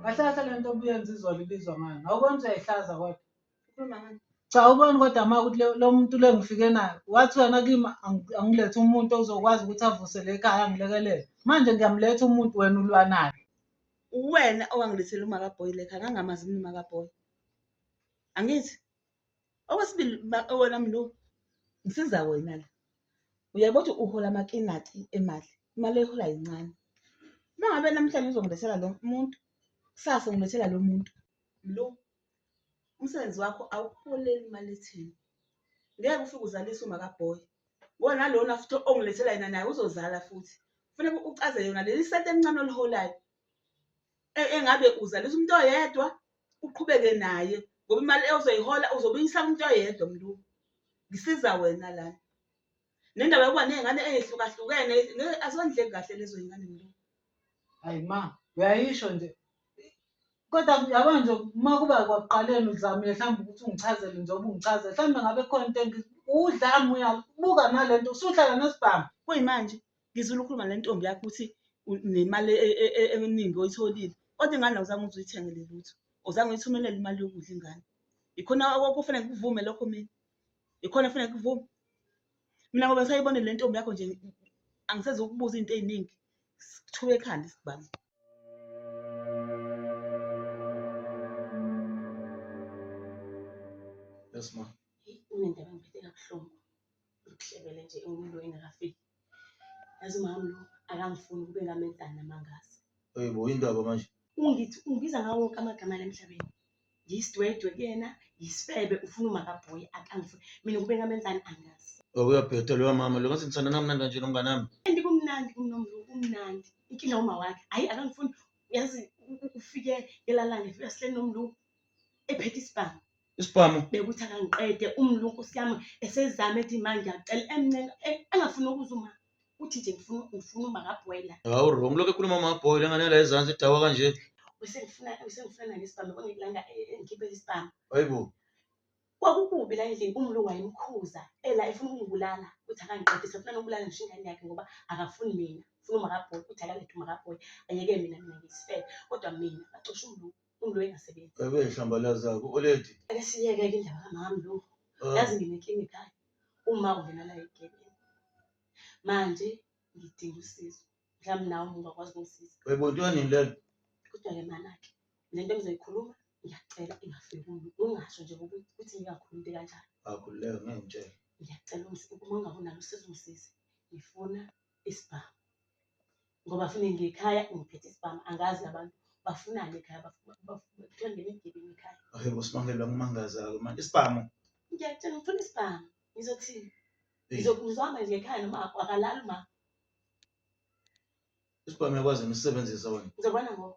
Kahle kahle le nto obuyenza izolo ibizwa ngani? Awukwenza uyayihlaza kodwa. Ukhuluma ngani? Cha ubone kodwa ma ukuthi le- lo muntu le ngifike naye wathi wena kimi angi- angilethe umuntu ozokwazi ukuthi avuse le khaya angilekelele. Manje ngiyamletha umuntu wena ulwa naye. Uwena owangilethela umakaboy le khaya ngangamazi mina umakaboy. Angithi? okwesibili wena mlu ngisiza wena la uyabo ukuthi uhola amakinati emali imali ehola yincane uma ngabe namhlanje uzongilethela lo muntu kusasa ungilethela lo muntu mlu umsebenzi wakho awuholeli imali ethini ngeke ufike uzalise uma kabhoyi wona lona futhi ongilethela yena naye uzozala futhi kufanele ucaze yona leli sete emncane oliholayo e-, engabe uzalisa umuntu oyedwa uqhubeke naye ngoba imali ozoyihola uzobe uyisala umuntu oyedwa mntu ngisiza wena lana nendaba yokuba ney'ngane ey'hlukahlukene azondleki kahle lezo y'ngane mntu hayi ma uyayisho nje kodwa yabo nje uma kuba kwakuqaleni uzamile mhlawumbe ukuthi ungichazele njengoba ungichazele mhlawumbe ngabe khona into engi udlame uyabuka nale nto usuhlala nesibhamu kuyimanje ngizula ukhuluma le ntombi yakho ukuthi nemali e, e, e, eningi oyitholile kodwa ingane awuzange uze uyithengele lutho awuzange uyithumelele imali yokudla ingane ikhona okufanele kuvume lokho mina ikhona kufanele kuvume mina ngoba sayibone le ntombi yakho nje angiseze ukubuza into eziningi sithuke ekhanda isibhamu Yes ma. Unendaba engiphethe kabuhlungu. Uhlebele nje umuntu engakafiki. Yazi umama lo akangifuni ukube ngamenzani namangazi. Hey bo indaba manje. Ungithi ungibiza ngawo wonke amagama la emhlabeni. Ngiyisidwedwe kuyena, yisifebe ufuna umakabhoyi akangifuni. Mina ukube ngamenzani angazi. Okuyabheda loya mama lo ngathi ngithanda namnandi kanje nomngane wami. Kanti kumnandi kumnomlu kumnandi. Inkinga uma wakhe. Hayi akangifuni. Yazi u- u- ufike elalane ufika sihleli nomlu ephethe isibhamu. isibhamu bekuthi akangiqede umlungu siyami esezame ethi manje acela emncenga eh, engafuni ukuza uma uthi nje ngifuna ngifuna uma kabhoyla hawu wrong lokho ekhuluma amabhoyla engane la ezansi idawa kanje usengifuna usengifuna nani isibhamu kwangilanga engikhiphe eh, eh, isibhamu hayibo kwakukubi la endlini umlungu wayemkhuza ela efuna ukungibulala ukuthi akangiqede sefuna nokubulala ngisho ingane yakhe ngoba akafuni mina ufuna umakabhoyi ukuthi akalethe umakabhoyi ayeke mina mina ngiyisifele kodwa mina bacosha umlungu Umlo engasebenzi. Bebe nhlambalaza-ke oledi. Ake siyeke-ke indaba kamama lo. Ah. Yazi nginenkinga ekhaya. Uma ungena la egebeni. Manje ngidinga usizo. Mhlawumbe nawe uma ungakwazi ukungisiza. Bebe kuthiwa nini lento? Kuthiwa-ke manake. Le nto engizoyikhuluma ngiyacela ingafiki kulo. Ungasho nje ukuthi ukuthi ngingakhulumi into kanjalo. Akhululeke ngeke ngitshele. Ngiyacela ungisize. Uma ungabi nalo usizo ungisize. Ngifuna isibhamu. ngoba funa ngekhaya ngiphethe isibhamu angazi abantu bafunani ekhaya bathole ngemigebengu ekhaya okay bosibangela kumangaza-ke manje isibhamu ngiyakutshela ngifuna isibhamu ngizothini ngizohamba nje ekhaya noma akalali ma isibhamu yakwazi ngisebenzisa wena ngizobona ngoba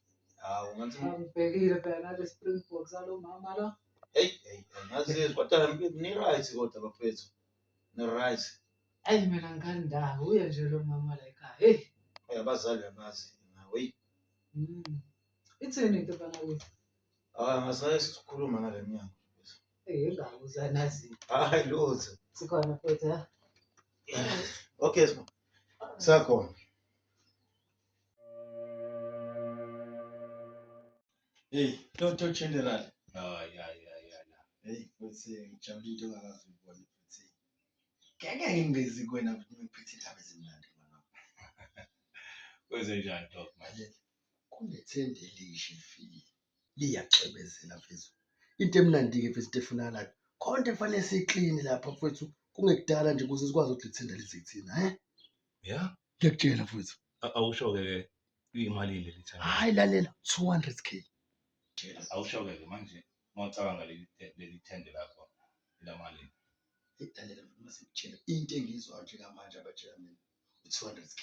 Hawu ngathi Ngibhekile phela nale Springbok salo mama lo. hey hey hey, ngazi kodwa ni right kodwa bafethu. Ni right. Ayi mina ngani ndawo uye nje lo mama la ekhaya. Hey. Hey abazali abazi nawe. Hey. Mm. Ithini into bana wethu? Ah ngasaye sikhuluma ngale mnyango. Eh ngawo uzanazi. Hayi lutho. Sikhona futhi ha. Okay sma. Sakhona. Hey, Toto General. Oh, yeah, yeah, yeah, yeah. Hey, futhi ngijabule into ongakaze uyibone futhi. Ngeke ngingezi kuwena ukuthi ngiphethe indaba ezimnandi mama. Kwenze njani Doc manje? Kunethende elisha elifile. Liyaxebezela mfethu. Into emnandi-ke mfethu into efunakalayo. Konke kufanele siklini lapha mfethu. Kungekudala nje ukuze sikwazi ukuthi lithende lizithina, he? Yeah. ngiyakutshela futhi A- awusho-ke ke iyimalini leli thanda hayi lalela 200 k awusho-ke ke manje uma ucabanga leli te- leli thende lakho elamalini Eyi, lalela futhi uma sikutshela into engiyizwayo njengamanje abatshela mina u-200 k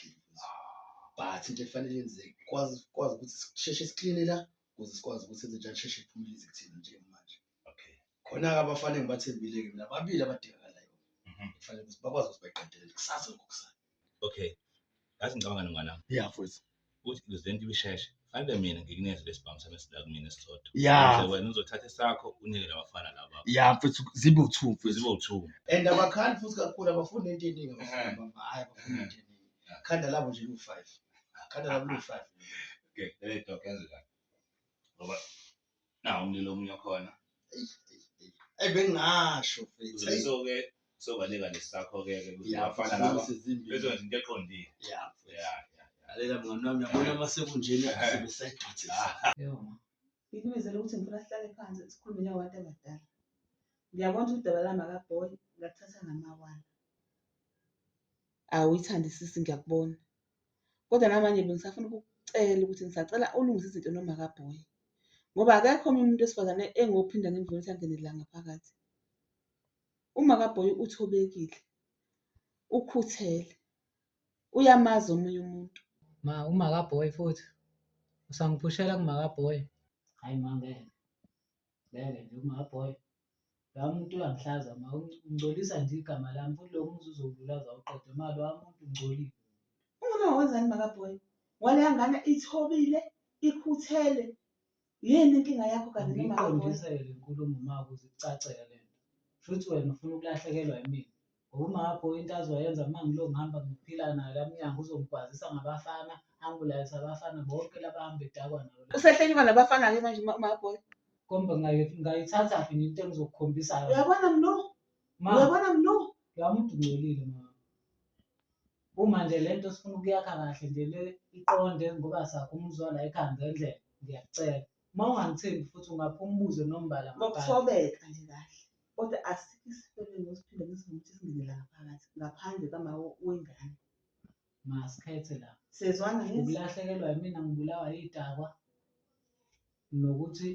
but into efanele yenzeke kwazi kwazi ukuthi sisheshe sikline la ukuze sikwazi ukuthi enze njani sheshe iphumulise kuthina njengamanje okay khona-ke abafana engibathembile-ke mina babili abadingakalayo Mhm. kufanele ukuthi bakwazi ukuthi bayiqedelele kusasa ngokusana okay ngathi ngicabanga nongana ya futhi ukuthi le zinto ibisheshe fanele mina ngikuneze lesibhamu sami esila kumina esisodwa ya Ukuze wena uzothatha esakho unike labafana laba ya futhi zibe uthu futhi zibe uthuku and abakhandi futhi kakhulu abafuni into eningi abafuni Mhm. bamba, hhayi abafuni into eningi khanda labo nje liwu-five khanda labo liwu-five okay le doc yenze kahle ngoba Nawu umlilo omunye okhona. Eish, eish, eish. Eyi bengingasho mfethu. Uzobe Eyi, soke sobaleka nesakho-ke ke ukuthi yeah, abafana laba mfethu, izimbi. bezokwenza into eqondile. Yeah, mfethu. Ya, ya, ya. Lalela mngani wami yabona uma sekunjena sebesayigqithisa. Yebo ma. Ngikubizele ukuthi ngifuna sihlale phansi sikhulume njengabantu abadala. Ngiyabona ukuthi udaba lami akabholi, ngakuthatha ngamawala. Awuyithandisisi ngiyakubona. Kodwa namanje bengisafuna ukukucela ukuthi ngisacela ulungise izinto nomakabhoyi ngoba akekho omunye umuntu wesifazane engophinda ngimvune ukuthi angene la ngaphakathi. Umakabhoyi uthobekile, ukhuthele, uyamazi omunye umuntu. Ma umakabhoyi futhi usangiphushela kumakabhoyi. Hayi ma ngeke. Ngeke nje ungabhoya. Loya muntu uyangihlaza ma ungcolisa nje igama lami futhi lokho umzuzu ukululaza awuqede ma loya muntu ungcolile. Ungona wenzani makabhoyi? Waleya ngane ithobile, ikhuthele. Yini inkinga yakho kanti noma akabhoyi? Ngiyiqondisele le nkulumo ma ukuze ikucacele le nto. Shuthi wena ufuna ukulahlekelwa yimina. Ngokungakho into azoyenza uma ngilo ngihamba ngiphila nayo la mnyango uzongigwazisa ngabafana angibulalise abafana bonke laba hambe edakwa nayo la. Usehlekilwa nabafana-ke manje uma- umaboy Kombe ngayi- ngayithatha phi into engizokukhombisa yona. uyabona mnu Ma, uyabona mnu loya muntu ungcolile ma. Uma nje le nto sifuna ukuyakha kahle nje le iqonde ngoba sakho umuzwa la ekhaya ngendlela ngiyakucela. Uma ungangithembi futhi ungapha umbuzo nombala mabhala. Ngokuthobeka nje kahle. Kodwa asikho isipelingi osiphinde ngisizwe ukuthi singene la ngaphakathi ngaphandle kama wengane. Masikhethe la. Sezwana ngithi Ukulahlekelwa yimina ngibulawa yidakwa nokuthi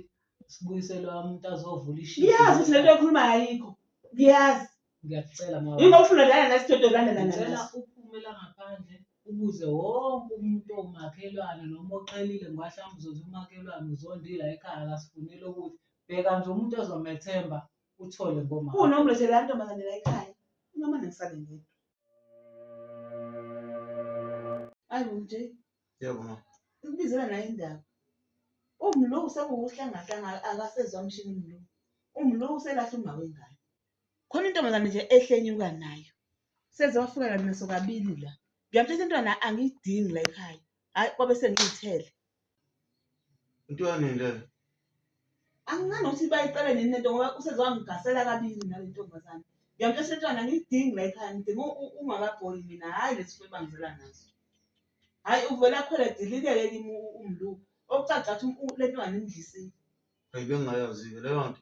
sibuyiselwe umuntu azovula ishiya. ngiyazi ukuthi lento ekhuluma ayikho. Ngiyazi. Ngiyakucela mama. Yini ofuna lana nasidodo lana lana. Ngicela uphume la ngaphandle ubuze wonke umuntu owumakhelwane noma oqhelile ngoba mhlawumbe uzothi umakhelwane uzondila ekhaya akasifunile ukuthi bheka nje umuntu ozomethemba uthole ngoma. Kunomlethela ntombazane la ekhaya. Noma ngisale ngedwa. Ayi manje. Yebo mama. Ukubizela nayo indaba. Umlo usekuwuhlangahlanga akasezwa mshini umlo. Umlo uselahle umawe ngane. khona intombazane nje ehlenyuka nayo seze wafika kanti naso kabili la ngiyamthetha intwana angiyidingi la ekhaya hhayi kwabe sengiyithele into yanini leyo angicani ukuthi bayiqale nini lento ngoba useze wangigasela kabili nale ntombazane ngiyamthetha intwana angiyidingi la ekhaya ngidinga ungakabholi mina hhayi lesi fo ebangizela naso hhayi uvele akhwele dilikeke kimi umluku okucaca ukuthi le ntwana imdlisile hayi bengingayazi-ke leyo nto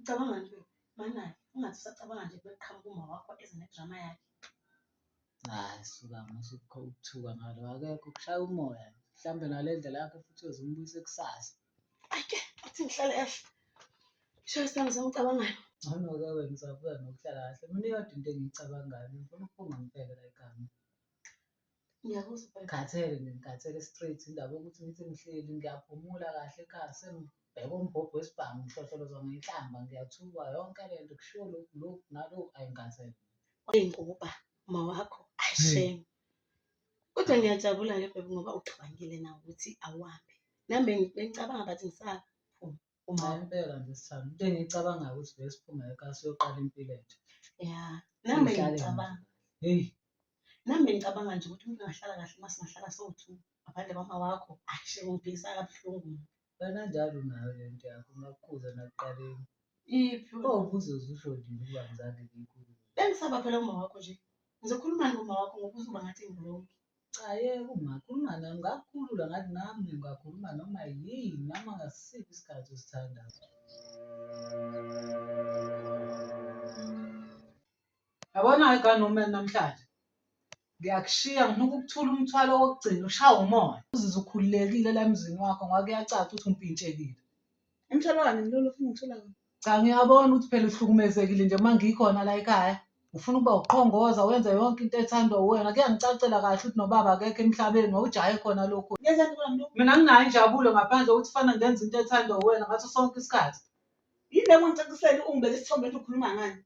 Ucabanga nje banani ungathi usacabanga nje bekuqhamuka uma wakho eze nedrama yakhe. Hayi suka musa ukuthuka ngalo akekho ukushaya umoya mhlawumbe ngale ndlela yakhe futhi uyozimbuyisa kusasa. Ake athi ngihlale kahle. Sho sami sengicabangani. Ngcono-ke wena usabuya nokuhlala kahle. Mina iyodwa into engiyicabangayo ngifuna ukuphunga ngibheke la ekhaya. Ngikhathele nje ngikhathele straight indaba yokuthi ngithi ngihleli ngiyaphumula kahle ekhaya sengibheka umbhobho wesibhamu ngihlohlolozwa ngenhlamba ngiyathukwa yonke le nto kushiwo lokhu lokhu nalokhu ayi ngikhathele. Uyinguba uma wakho ashame. Kodwa ngiyajabula ke bebe ngoba ucabangile nawe ukuthi awuhambe. Nami bengicabanga but ngisaphuma. Uma impela nje sithanda into engiyicabangayo ukuthi vele siphume ekhaya siyoqala impilo entsha. ya nami Sihlale ngicabanga Hey, nami bengicabanga nje ukuthi umuntu angahlala kahle uma singahlala sowu-two ngaphandle kwama wakho ashe ungiphikisa kabuhlungu kananjalo nayo le nto yakho ngakukhuza nakuqaleni. iphi Oh, kuze uzisho nje ukuba ngizange ngiyikhuze. bengisaba phela uma wakho nje ngizokhuluma ngoma wakho ngokuze uba ngathi ngirongi Cha yeke ungakhuluma naye ungakukhulula ngathi nami ungakhuluma noma yini noma ngasiphi isikhathi osithandayo. Yabona ke gani uma namhlanje ngiyakushiya ngifuna ukukuthula umthwalo wokugcina ushawa umoya uzizwe ukhululekile la emzini wakho ngoba kuyacaca ukuthi umpintshekile. Umtholwane ngilolu ufuna ngithola wena. Cha ngiyabona ukuthi phela uhlukumezekile nje uma ngikhona la ekhaya. Ufuna ukuba uqhongoza wenze yonke into ethandwa uwena. Kuyangicacela kahle ukuthi nobaba akekho emhlabeni wawujahe khona lokhu. Ngiyazana kulo mlungu. Mina nginayo injabulo ngaphandle kokuthi fana ngenza into ethandwa uwena ngaso sonke isikhathi. Yini le kungicacisela ungibeka isithombe ethi ukhuluma ngani?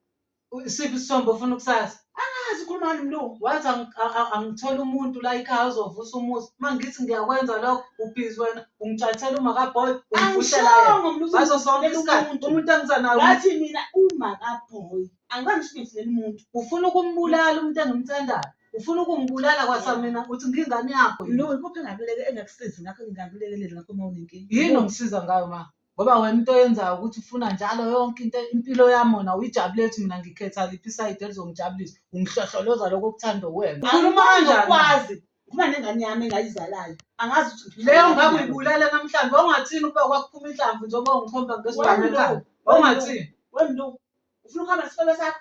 Isiphi isithombe ofuna ukusazi? Angazi ukhuluma ngani mlungu. Wathi angi- a- a- angithole umuntu la ikhaya ozovusa umuzi. Uma ngithi ngiyakwenza lokho, ubhizi wena, ungitshathela umakaboy, ungivushela yena. Angishongo mlungu Ngaso sonke ngizomvulela isikhathi, umuntu. umuntu angisanawo. Ngathi mina uma kabhoyi angibanga ngisho ngivulele umuntu. Ufuna ukumbulala umuntu engimthandayo. Ufuna ukungibulala kwasamina, uthi ngingane yakho. yini? Mlungu ikuphi engakuleke engakusizi ngakho engingakulekelela ngakho uma unenkinga? Yini ongisiza ngayo ma? ngoba wena into oyenzayo ukuthi ufuna njalo yonke into impilo yami wona uyijabule ethi mina ngikhetha liphi isayidi elizongijabulisa ungihlohloloza lokho okuthanda uwena Ukhuluma kanjani? kwazi uma nengane yami engayizalayo angazi ukuthi leyo ngabe uyibulala namhlanje wawungathini ukuba kwakuphuma inhlamvu njengoba ungikhomba ngesibhamu ekhanda wawungathini wemlu ufuna ukuhamba nesikole sakho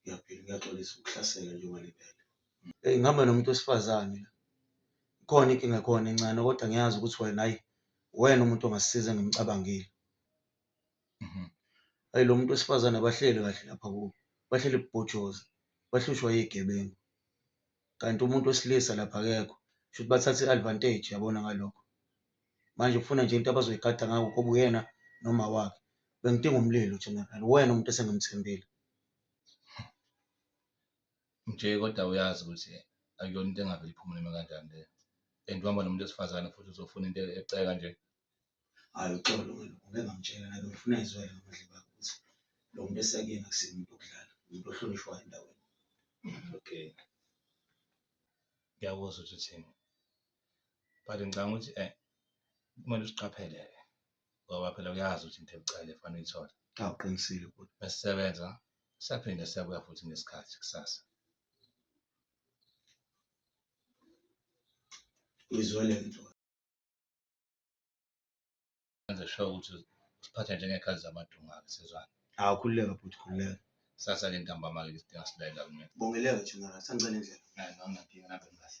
Ngiyaphila ngiyaxolisa ukuhlasela njengoba liphele. Eyi ngihamba nomuntu wesifazane la. Ikhona inkinga ekhona encane kodwa ngiyazi ukuthi wena ayi wena umuntu ongasisiza engimcabangile. Mhm. Ayi lo muntu wesifazane abahleli kahle lapha kubo. Bahleli bubhojoza, bahlushwa yigebengu. kanti umuntu wesilisa lapha akekho shuthi bathatha i-advantage yabona ngalokho manje ufuna nje into abazoyigada ngako koba uyena noma wakhe bengidinga umlilo general wena umuntu esengimthembile nje kodwa uyazi ukuthi akuyona into engavele iphumule noma kanjani le and uhamba nomuntu wesifazane futhi uzofuna into eceka nje Hhayi uxolo wena ngeke ngamtshela nabe ngifuna izwele ngamadlebe akho ukuthi lo muntu esakuyena akusiye umuntu okudlala, umuntu ohlonishwayo endaweni. Okay. Ngiyakuzwa ukuthi uthini. But ngicabanga ukuthi eh kumele usiqaphele-ke ngoba phela uyazi ukuthi into ebucayi efana uyithole. Cha uqinisile bhuti. Mesisebenza siyaphinde siyabuya futhi ngesikhathi kusasa. Uyizwele into Enze sure ukuthi usiphatha njengekhazi zamadunga-ke sezwana. Hawu khululeka bhuti khululeka. Sasa ke ntambama-ke isidinga silalela kumina. Bongeleka thina la sangicela indlela. Hayi, ngangingaphika nami kahle.